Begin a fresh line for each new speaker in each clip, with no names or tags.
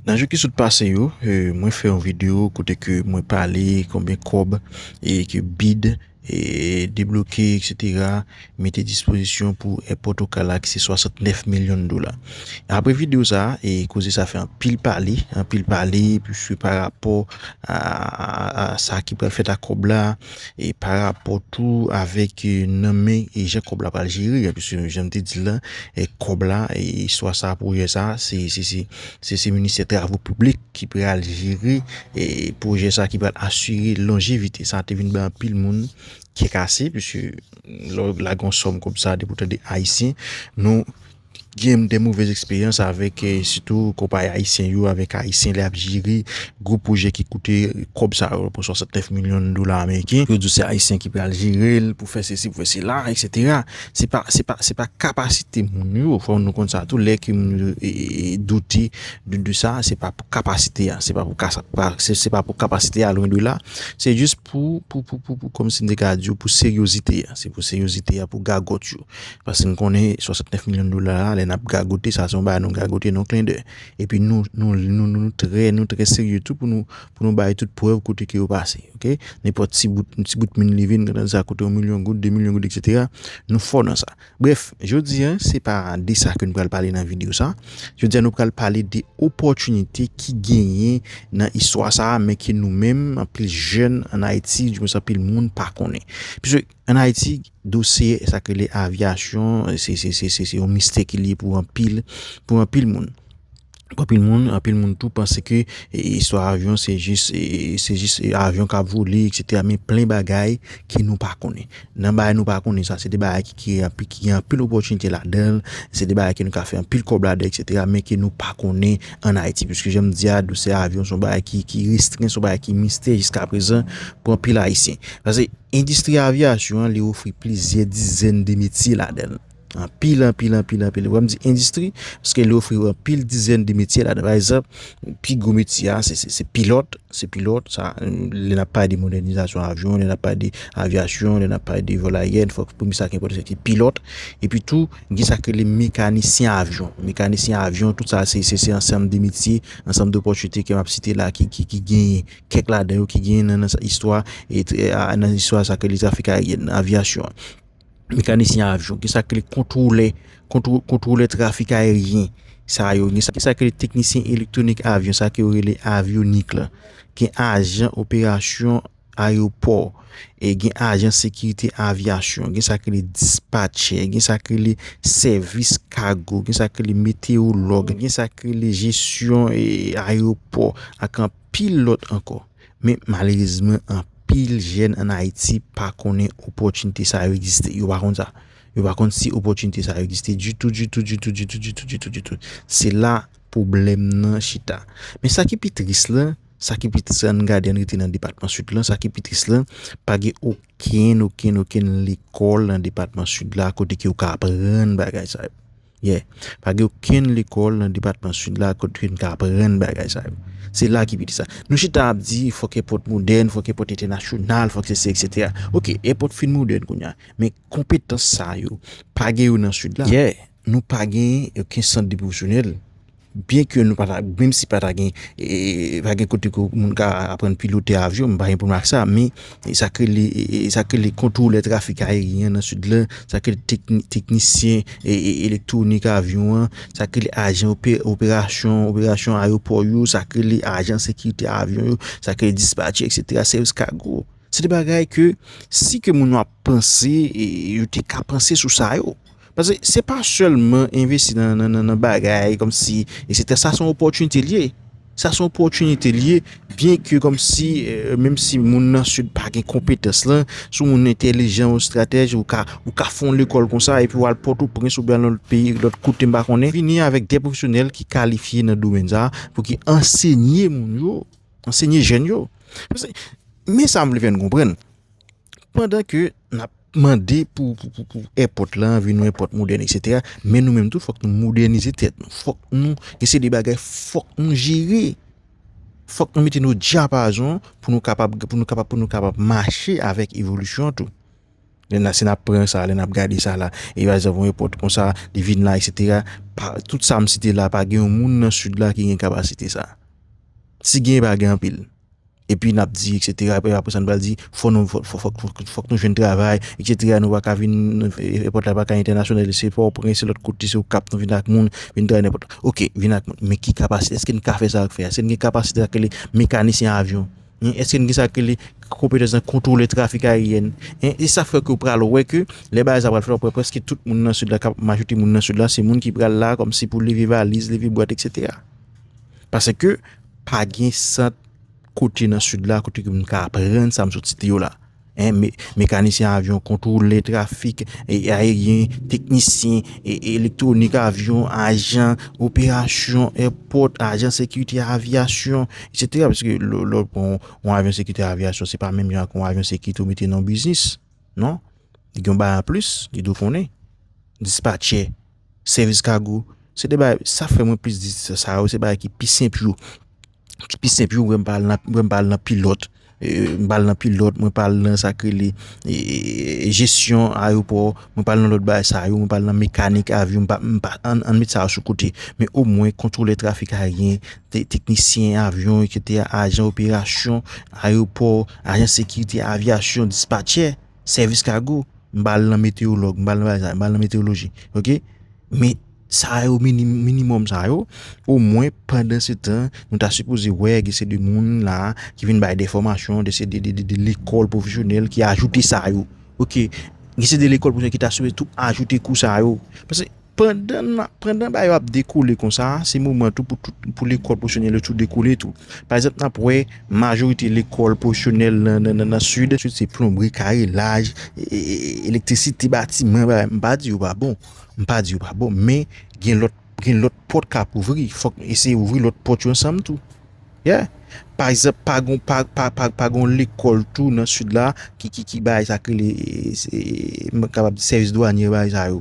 Nan jou ki sot pase yo, mwen fè yon video kote ke mwen pale konbyen kòb e ke bid e debloke etc. Mete dispozisyon pou èpòt okala ki se 69 milyon dola. Apre video sa, e koze sa fè anpil pale, anpil pale, pwiske pa rapò a sa ki pral fèt ak kòb la, e pa rapò tou avèk nan men e jan kòb la pral jere a piske jan m te di l la e kòb la e istwa sa pwojè sa se se se se se ministè travo piblik ki pral jere e pwojè sa ki pral asire lonjevite sa te vin bay anpil moun kè kase piske lè w lage yon sòm kòb sa depi w tande ayisyen nou Genm de movez eksperyans avek sitou konpayi ayisyen yo avek ayisyen le ap jere gwo pwojè ki koute kob sa yo pou 69 milyon dola ameriken yo di w se ayisyen ki pral jerel pou fè sesi pou fè sela etc se pa se pa se pa kapasite moun yo fò nou konn sa tou lè ke moun yo doute de sa se pa pou kapasite a se pa pou kasa se pa pou kapasite a lwen de la se jis pou pou pou pou pou kòm si m te ka di w pou seryozite a se pou seryozite a pou gagòt yo. Paske n konnen 69 milyon dola a lè n ap gagote sa se yon bagay nou gagote nan klendè. Epi nou nou trè nou trè serye tou pou nou bay tout prèv kote ke yo pase ok. Nenpòt ti bout yon ti bout min li vin nan sa kote yon milyon goud, 2 milyon goud eksetera nou fò nan sa. Brèf jodi a se pa de sa ke nou pral pale nan videyo sa. Jodi a nou pral pale de opòtinite ki genyen nan istwa sa men ke nou menm anpil jèn ann Ayiti di mwen sa anpil moun pa konnen. An Ayiti, dosye sa k rele avyasyon, se yon mistè ke li ye pou anpil moun. Pou anpil moun, anpil moun tou panse ke istwa avyon se jis avyon ka vole, eksetera. Men plen bagay ke nou pa konnen. Nan bagay nou pa konnen sa, se de bagay ki gen anpil opòtinite ladan l, se de bagay ke nou ka fè anpil kòb ladan l, eksetera, men ke nou pa konnen. an Ayiti. Piske jan m di a, dousè avyon son bagay ki restren, son bagay ki mistè jiska prezan pou anpil Ayisyen. Pase, endistri avyasyon an li ofri plizyè dizèn de metye ladan. Anpil, anpil, anpil, anpil. Wè m di endistri, paske li ofri anpil dizèn de metye ladan. Bay zan, pi gwo metye a, se pilòt, se pilòt. Sa, lè nan pay de modènizasyon avyon, lè nan pay de avyasyon, lè nan pay de vòl ayèn, fòk pou mi sa ki enpòtan se ki pilòt. E pi tou, Gen sa k rele mekanisyen avyon. Mekanisyen avyon, tout sa se se se ansanm de metye, ansanm dopòtinite ke m ap site la ki ki genyen. Kèk ladan yo ki genyen nan nan istwa e nan istwa sa k rele trafik ayeryen nan, avyasyon an. Mekanisyen avyon. Gen sa k rele kontwolè kontwo kontwolè trafik ayeryen sa yo. Gen sa gen sa k rele teknisyen elektwonik avyon sa ke yo rele avyonik la. Gen ajan operasyon. ayopò, e gen ajan sekirite avyasyon, gen sa k rele dispatchè, gen sa k rele sèvis kago, gen sa k rele meteyològ, gen sa k rele jesyon ayopò ak anpil lòt ankò. Men malerezman anpil jèn an Ayiti pa konnen opòtinite sa yo egziste. Yo pa konn sa. Yo pa konn si opòtinite sa yo egziste ditou, ditou, ditou, ditou, ditou, ditou, ditou. Se la pwoblèm nan chita. Men sa ki pi tris la. Sa ki pi tris la, ann gade, ann rete nan depatman Sid lan, sa ki pi tris la, pa gen okenn, okenn, okenn lekòl nan depatman Sid la kote ke ou ka aprann bagay sa yo. Yeah. Pa gen okenn lekòl nan depatman Sid la kote ke nou ka aprann bagay sa yo. Se la ki pi tris la. Nou chita ap di, fòk èpòt modèn, fòk èpòt entènasyonal, fòk sesi eksetera. Ok, èpòt fin modèn kounye a, men konpetans sa yo, pa gen yo nan Sid la. Yeah. Nou pa gen oken sant de pwofesyonèl, byen ke nou pa ta, menm si pa ta gen, pa gen kote ke moun ka aprann pilote avyon, mwen pa gen pwoblèm ak sa, men sa k rele, sa k rele kontwolè trafik ayeryen nan Sid la, sa k rele teknisyen elektwonik avyon an, sa k rele ajan operasyon, operasyon ayewopò yo, sa k rele ajan sekirite avyon yo, sa k rele dispatchè eksetera, sèvis kago, se de bagay ke si ke moun yo ap panse, yo te ka panse sou sa yo. Paske se pa sèlman envesti nan bagay kòmsi eksetera. Sa se yon opòtinite li ye. Sa se yon opòtinite li ye byen ke kòmsi menm si moun nan sid pa gen konpetans lan, si w moun entèlijan ou estratèj ou ka ou ka fon lekòl konsa epi wal pòtoprens oubyen al nan lòt peyi lòt kote m pa konnen vini avèk de pwofesyonèl ki kalifye nan domèn sa pou ki ansenye moun yo, ansenye jèn yo. Men sa m vle fè nou konprann. Pandan ke nap mande pou èpòt la vin yon èpòt modèn eksetera, men nou menm tou fòk nou modènize tèt nou, fòk nou gen seri de bagay fòk nou jere, fòk nou mete nou dyapazon pou nou kapab pou nou kapab pou nou kapab mache avèk evolisyon an tou. Lè nan si nap pran sa, lè nap gade sa la, e pa egzanp yon èpòt konsa li vin la eksetera, pa tout sam site la pa gen yon moun nan sid la ki gen kapasite sa. Si gen pa gen anpil. Epi nap di etc epi apresa nou pral di fò nou fòk nou jwenn travay etc nou paka vin èpòt la paka entènasyonalize se pò oprens se lòt kote se okap nou vin ak moun vin travay nan èpòt la ok vin ak moun men ki kapasite èske nou ka fè sa yo k fè a èske nou gen kapasite sa k rele mekanisyen avyon èske nou gen sa k rele konpetans nan kontwole trafik ayeryen e sa fè ke ou pral wè ke lè bagay sa pral fèt wap wè prèske tout moun nan sid la kap majorite moun nan sid la se moun ki pral la kòmsi pou leve valiz leve bwat etc paseke pa gen sant kote nan sud la kote ke m ka aprann sa m sot site yo la. Mekanisyen avyon, kontwolè trafik, e aeryen, teknisyen, e elektronik avyon, ajan, operasyon, airport, ajan sekirite avyasyon, etc. Pèske lò pou yon avyon sekirite avyasyon, se pa menm jan pou yon avyon sekirite ou mete nan biznis. Non? Yon ba an plis, yon do konnen. Dispatchè. Sèvis kago, se de bagay, sa fè mwen plis di sa yo, se bagay ki pi senp yo, ki pi senp yo, mwen pa al nan, mwen pa al nan pilòt, mwen pa al nan pilòt, mwen pa al nan sa ki rele jesyon ayopò, mwen pa al nan lòt bagay sa yo, mwen pa al nan mekanik avyon, mwen pa, an nou met sa yo sou kote, men o mwen kontwolè trafik ayeryen, teknisyen avyon, ajan operasyon ayopò, ajan sekirite avyasyon, dispatchè. sèvis kago, m pa al nan metewològ, m pa al nan bagay sa yo, m pa al nan metewoloji ok. Men sa yo minimòm sa yo omwen pandan se tan nou ta sipoze wè gen se de moun la ki vin bay de fòmasyon de se de lekòl pwofesyonèl ki ajoute sa yo ok. Gen se de lekòl pwofesyonèl ki ta sipoze tou ajoute kou sa yo. Pandan ba yo ap dekole konsa, se moman tou pou lekòl pwofesyonèl yo tou dekole tou. Pa egzanp, n ap wè majorite lekòl pwofesyonèl nan sid, se plonbri, karelaj, elektrisite batiman, m pa di yo pa bon, m pa di yo pa bon men gen lòt pòt k ap ouvri, fòk nou eseye ouvri lòt pòt yo ansanm tou. Yeah! Pa egzanp, pa gen yon lekòl tou nan sid la ki bay sa k rele, m kapab di sèvis dwanye yo bay sa yo.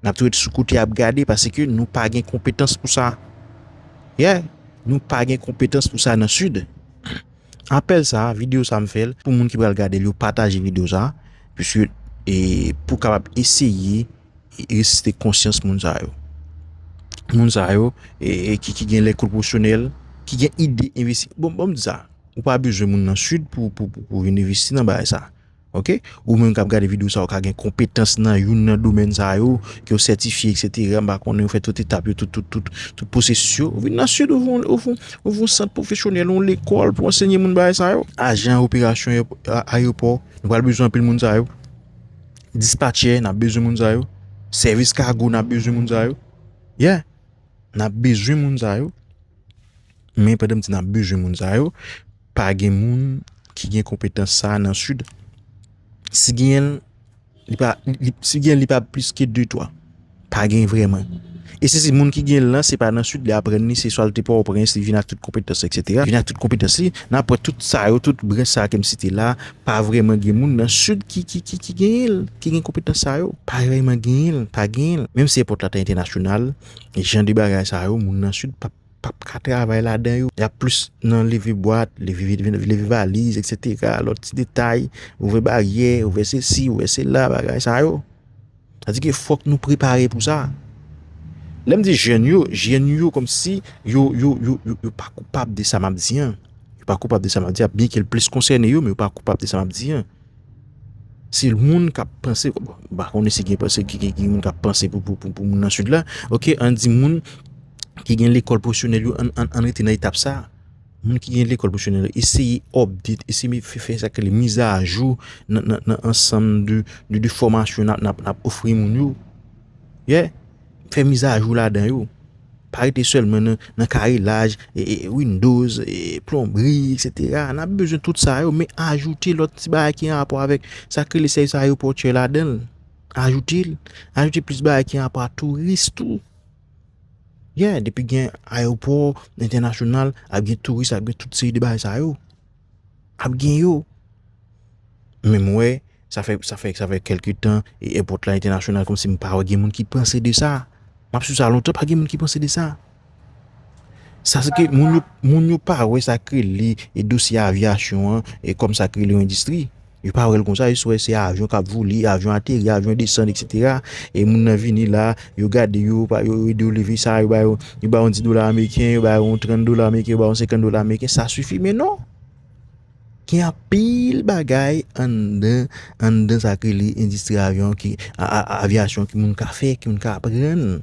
N ap toujou ret sou kote ap gade paske nou pa gen konpetans pou sa. Yeah! Nou pa gen konpetans pou sa nan Sid. Apèl sa, video sa m fè l pou moun ki pral gade l yo pataje video sa puiske e pou kapab eseye resiste konsyans moun sa yo. Moun sa yo e ki ki gen lè kou pwosyonèl, ki gen ide envesti. Bon, bon m di sa, ou pa bezwen moun nan Sid pou pou pou vin envesti nan bagay sa. Ok ou menm kap gade video sa ou ka gen konpetans nan youn nan domèn sa yo ke ou sètifye eksetera m pa konnen ou fè tout etap yo tout tout tout tout pwosesis yo ou vin nan sid ou vin ou ouvri yon sant pwofesyonèl yon lekòl pou ansenye moun bagay sa yo ajan operasyon ayewopò nou pral bezwen anpil moun sa yo dispatchè nap bezwen moun sa yo sèvis kago nap bezwen moun sa yo ye nap bezwen moun sa yo men pandan m di nap bezwen moun sa yo. Pa gen moun ki gen konpetans sa a nan Sid. Si genyen l, li pa plis ke de twa. Pa gen vreman. E si se moun ki gen l lan, se pa nan Sid li aprann li, se swa li te Pòtoprens, li vin ak tout konpetans li, eksetera. Li vin ak tout konpetans li. Nan apre tout sa yo, tout branch sa a ke m site la a, pa vreman gen moun nan Sid ki genyen l, ki gen konpetans sa yo. Pa vreman genyen l. Pa genyen l. Menm si èpòt la ta entènasyonal, jan de bagay sa yo, moun nan Sid p ap. pap ka travay ladan yo, yap plis nan leve bwat, leve valiz etc, lòt ti detay, ouvè baryè, ouvè se si, ouvè se la, bagay sa yo, sa di ke fòk nou prepare pou sa, lèm di jèn yo, jèn yo kòm si yo pa koupab de sa map di an, yo pa koupab de sa map di an, byen ke l plis konsène yo men yo pa koupab de sa map di an. Se moun k ap panse, m pa konnen si gen panse ki gen moun k ap panse pou moun nan sid la, ok, an di moun ki gen lekòl pwofesyonèl yo an rete nan etap sa, moun ki gen lekòl pwofesyonèl eseye update, eseye fè sa ki rele mizajou nan ansanm de fòmasyon n ap ofri moun yo, ye. Fè mizajou ladan yo. Pa rete sèlman nan karelaj, windows, plonbri, etc. N ap bezwen tout sa yo, men ajoute lòt ti bagay ki anrapò avèk sa k rele sèvis ayewopòtyè ladan l. Ajoute l. Ajoute plis bagay ki anrapò ak touris tou. Yè, depi gen ayewopò, entènasyonal, ap gen touris, ap gen tout seri de bagay sa yo. Ap gen yo. Men m wè, sa fè, sa fè, sa fè kèlke tan, e èpòt la entènasyonal kòmsi m pa wè gen moun ki panse de sa. M ap swiv sa lontan, pa gen moun ki panse de sa. Sa se ke moun yo, moun yo pa wè sa k rele e dosye avyasyon an e kòm sa k rele yon endistri. Yo pa wèl konsa, yo jis wè se avyon kap vole, avyon ateri, avyon desann etc. E moun nan vini la, yo gade yo, yo ede yo leve sa, yo ba yo, yo ba yo yon 10 dola ameriken, yo ba yo yon 30 dola ameriken, yo ba yo yon 50 dola ameriken, sa sifi men non. Gen anpil bagay anndan, anndan sa k rele endistri avyon ki, avyasyon ki moun ka fè, ki moun ka aprann.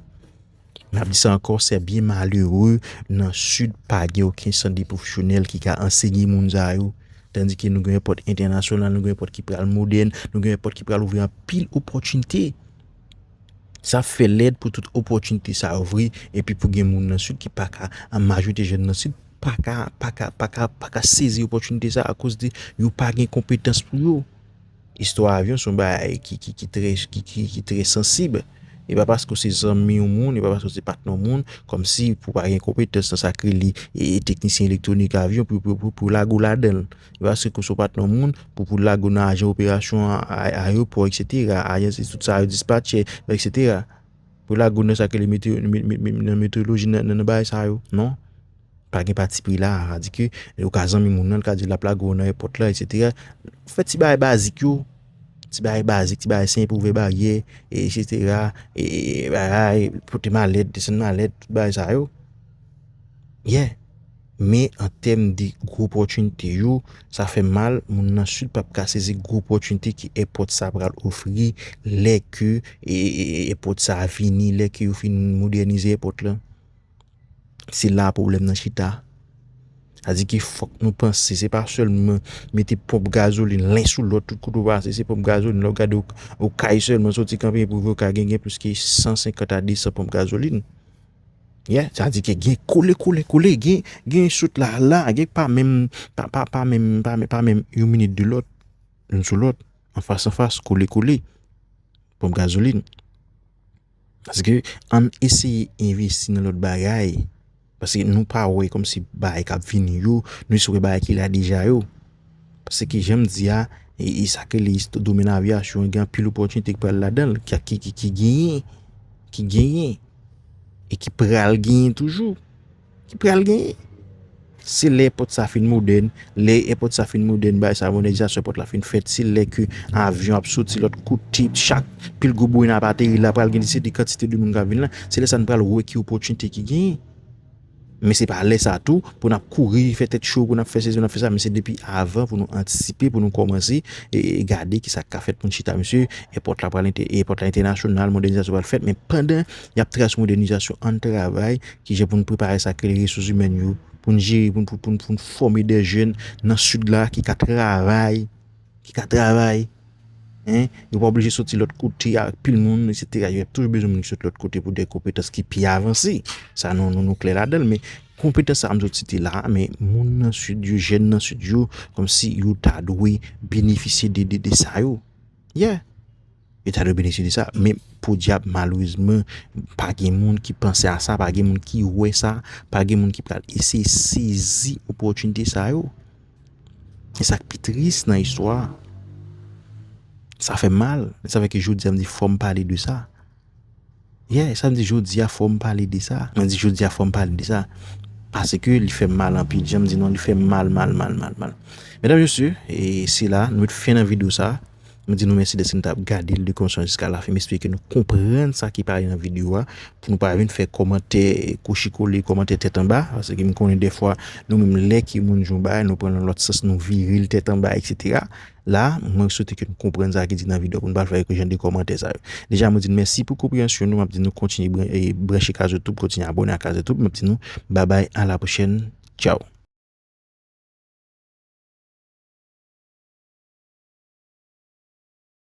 N ap di sa ankò, sè byen malere nan Sid pa gen oken sant de pwofesyonèl ki ka ansenye moun sa yo. Tandike nou gen yon pòt entènasyonal, nou gen yon pòt ki pral modèn, nou gen yon pòt ki pral ouvri anpil opòtinite. Sa ap fè lèd pou tout opòtinite sa yo vre epi pou gen moun nan Sid ki pa ka, an majorite jèn nan Sid pa ka, pa ka, pa ka, pa ka sezi opòtinite sa yo akoz de yo pa gen konpetans pou yo. Istwa avyon son bagay ki trè ki trè sansib e pa paske ou se zanmi yon moun e pa paske ou se patnè yon moun kòmsi pou pa gen konpetans nan sak rele teknisyen elektwonik avyon pou lage ou ladanl e pa paske ou son patnè yon moun pou pou lage ou nan ajan operasyon ayewopò eksetera ajan tout sa yo dispatchè eksetera. Pou lagoun nan sa ki rele nan metodoloji nan bagay sa yo non pa gen pati pri la sa di ke ou ka zanmi moun nan li ka diw lap lage w nan èpòt la etsetera fè ti bagay bazik yo ti bagay bazik ti bagay senp ouvè baryè etsetera bagay pote malèt desann malèt tout bagay sa yo ye. Men an tèm de gwo pòtinite yo, sa fè mal, moun nan Sid pap ka sezi gwo pòtinite ke èpòt sa pral ofri lè ke èpòt sa vini, lè ke yo fin modènize èpòt la. Se la pwoblèm nan chita. Sa di ke fòk nou panse, se pa sèlman mete ponp gazolin len sou lòt tout kote ou pase se ponp gazolin. Lè w gade okay sèlman soti kanpe pou rive okay gen gen plis ke 150 a 200 ponp gazolin. Yeah sa di ke gen kole kole kole gen gen sot la la gen pa menm pa pa pa menm pa menm pa menm yon minit de lòt youn sou lòt anfas anfas kole kole ponp gazolin paske ann eseye envesti nan lòt bagay paske nou pa wè kòm si bagay kap vini yo nou jis wè bagay ki la deja yo se ke janm di a e sa ke li domen avyasyon gen anpil opòtinite ki pral ladanl ki ki genyen ki genyen e ki pral genyen toujou, ki pral genyen. Se lè èpòt sa fin modèn, lè èpòt sa fin modèn, bagay sa modènizasyon èpòt la fin fèt, se lè ke avyon ap soti lòt kote, chak pil gwo bourina ap ateri la, pral gen de se de kantite de moun k ap vin la, se lè sa n pral wè ki opòtinite ki genyen. Men se pa lè sa tou pou nap kouri fè tèt cho pou nap fè sezi nap fè sa men se depi avan pou nou antisipe pou nou kòmanse gade ki sak ka fèt pou n chita mesye èpòt la pral èpòt la entènasyonal modènizasyon pral fèt men pandan yap trase modènizasyon ann travay kijan pou n prepare sak rele resous imèn yo pou n jere pou n pou n pou n fòme dè jèn nan sid la ki ka travay. ki ka travay, hein, yo pa oblije soti lòt kote ak pil moun, etc. Yo ap toujou bezwen moun ki soti lòt kote pou de konpetans ki pi avanse. Sa nou, nou, nou klè ladan l, men konpetans sa a m sot site la a, men moun nan Sid yo, jèn nan Sid yo, kòmsi yo ta dwe benefisye de, de, de sa yo. Yeah! Yo ta dwe benefisye de sa. Men podyab malerezman pa gen moun ki panse a sa, pa gen moun ki wè sa, pa gen moun ki pral eseye sezi opòtinite sa yo. E sa k pi tris nan istwa a, sa fè mal, sa fè ke jodi a m di fò m pale de sa. Yeah esa m di jodia fòm pale de sa. Mwen di jodia fòm pale de sa. Paske li fèm mal anpil janm di non li fèm mal mal mal mal mal. Medam mesye e se la nou met fen nan video sa. M di nou mèsi dèske nou tap gade l de kòmanse an jiska lafen m espere ke nou konprann sa ki pale nan video a pou nou pa vin fè kòmantè kouchi kole kòmantè tèt anba paske m konnen dèfwa nou menm lè ke moun di yon bagay nou pran l nan lòt sans nou vire l tèt anba etc. La, mwen swete ke nou konprann sa ki di nan video pou nou pa fè jan de komantè sa yo. Deja mwen di nou mèsi pou konpreyansyon nou, map di nou kontinye branche Kazetoub, kontinye abone ak Kazetoub, map di nou babay a la pwochèn, tchaw.